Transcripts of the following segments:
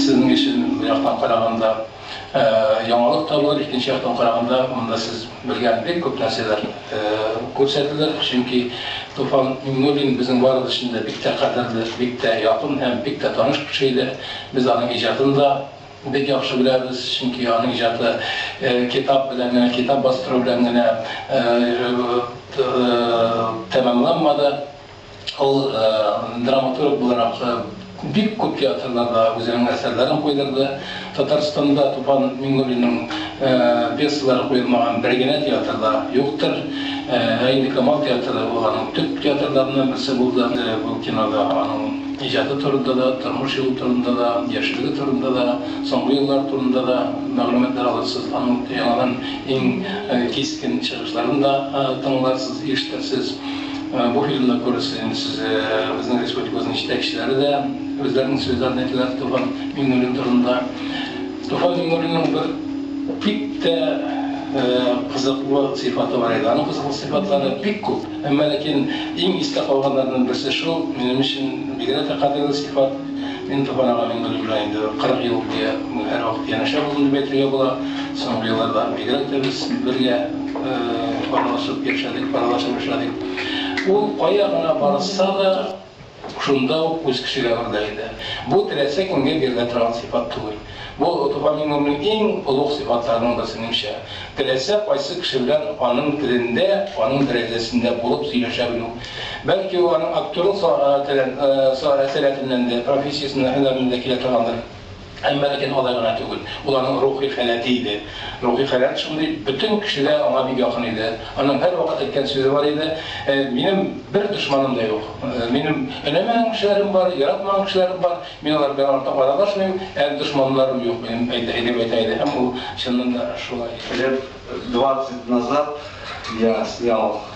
Сезнең өчен бу яктан караганда яңалык та булыр, икенче яктан караганда монда сез белгән бик күп нәрсәләр күрсәтелер, чөнки Туфан Миңнуллин безнең барыбыз өчен дә бик тә кадерле, бик тә якын һәм бик тә таныш кеше иде. Без аның иҗатын да Бик яхшы беләбез, чөнки аның иҗаты китап белән генә, китап бастыру белән генә тәмамланмады. Ул драматург буларак бик күп театрларда үзенең әсәрләрен куйдырды. Татарстанда Тупан Миңнуллинның пьесалары куелмаган бер генә театр да юктыр. Ә инде Камал театры ул аның төп театрларыннан берсе булды. Бу кинода аның. иҗаты турында да, тормыш юлы турында да, яшьлеге турында да, соңгы еллар турында да мәгълүматлар алырсыз, аның яңадан иң кискен чыгышларын да тыңларсыз, ишетерсез. Бу фильмда күрерсез инде сез безнең республикабызның җитәкчеләре дә үзләренең сүзләрен әйтәләр Туфан Миңнуллин турында. Туфан Миңнуллинның бер бик тә кызыклы сыйфаты бар иде. Аның кызыклы сыйфатлары бик күп. Әмма ләкин иң истә калганнарның берсе шул, минем өчен бигрәк тә кадерле сыйфат, мин Туфан ага Миңнуллин белән инде 40 ел буе һәрвакыт янәшә булдым дип әйтергә була. Соңгы елларда бигрәк тә без бергә аралашып яшәдек, аралашып эшләдек. Ул кая гына барса да, Шунда ук үз кешегә үрдәк итә. Бу теләсә кемгә бирелә торган сыйфат түгел. Бу топоним гомернең иң олуг сыйфатларының берсе, минемчә. Теләсә кайсы кеше белән аның телендә, аның дәрәҗәсендә булып сөйләшә белү. Бәлки ул аның актерлык сәләтеннән дә, профессиясеннән дә, һөнәреннән дә килә торгандыр. Әмма ләкин алай гына түгел. Ул аның рухи халәте иде. Рухи халәт шундый, бөтен кеше дә аңа бик якын иде. Аның һәрвакыт әйткән сүзе бар иде, Минем бер дошманым да юк. Минем өнәмәгән кешеләрем бар, яратмаган кешеләрем бар. Мин алар белән артык аралашмыйм, ә дошманнарым юк минем, дип әйтә иде. Һәм ул чыннан да шулай иде. Лет двадцать назад я снял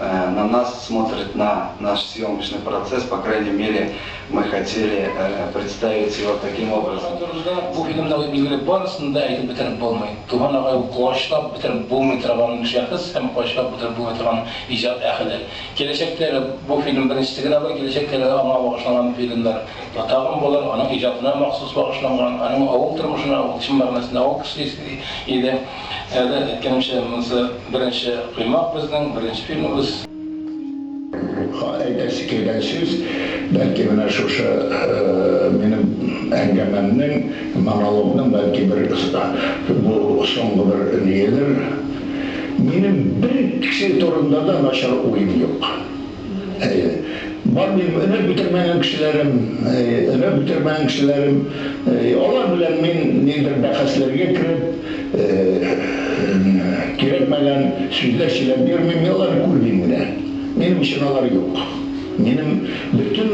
На нас смотрит на наш съемкочный процесс, по крайней мере мы хотели представить его таким образом. Бу турыда бу фильмда ук билгеле, барысын да әйтеп бетереп булмый. Туган агай ул куачлап бетереп булмый торган шәхес һәм куачлап бетереп булмый торган иҗат әһеле. Киләчәктәге бу фильм беренчесе генә бу, киләчәктәге аңа багышланган фильмнар да тагын булыр, аның иҗатына махсус багышланган, аның авыл тормышына, ул чын мәгънәсендә авыл кешесе иде. Сәүдә әйткәнемчә, монысы беренче коймак безнең, беренче фильмыбыз. Әйтәсе килгән сүз, бәлки менә шушы минем әңгәмәмнең, монологның бәлки бер бу соңгы бер ниедер. Минем бер кеше турында да начар уем юк. Бар дип өмет бетермәгән кешеләрем, өмет бетермәгән кешеләрем, алар белән мин ниндидер бәхәсләргә кереп, кирәкмәгән сүзләр сөйләп йөрмим, мин аларны күрмим генә. Минем өчен алар юк. Минем бөтен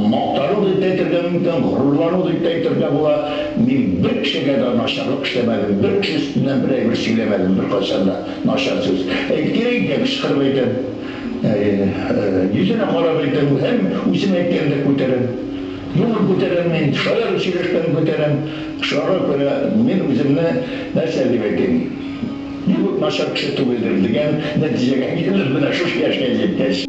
мактану дип тә әйтергә мөмкин, горурлану дип тә әйтергә була, мин бер кешегә дә начарлык эшләмәдем, бер кеше өстеннән бер әйбер сөйләмәдем беркайчан да. Начар сүз әйтер идем, кычкырып әйтәм. Әйе, йөзенә карап әйтәм һәм үзем әйткәндә күтәрәм. Юмор күтәрәм мин, шаян сөйләшкән күтәрәм. Шуңарга күрә мин үземне нәрсә дип әйтим, бик үк начар кеше түгелдер, дигән нәтиҗәгә килдем менә шушы яшькә җиткәч.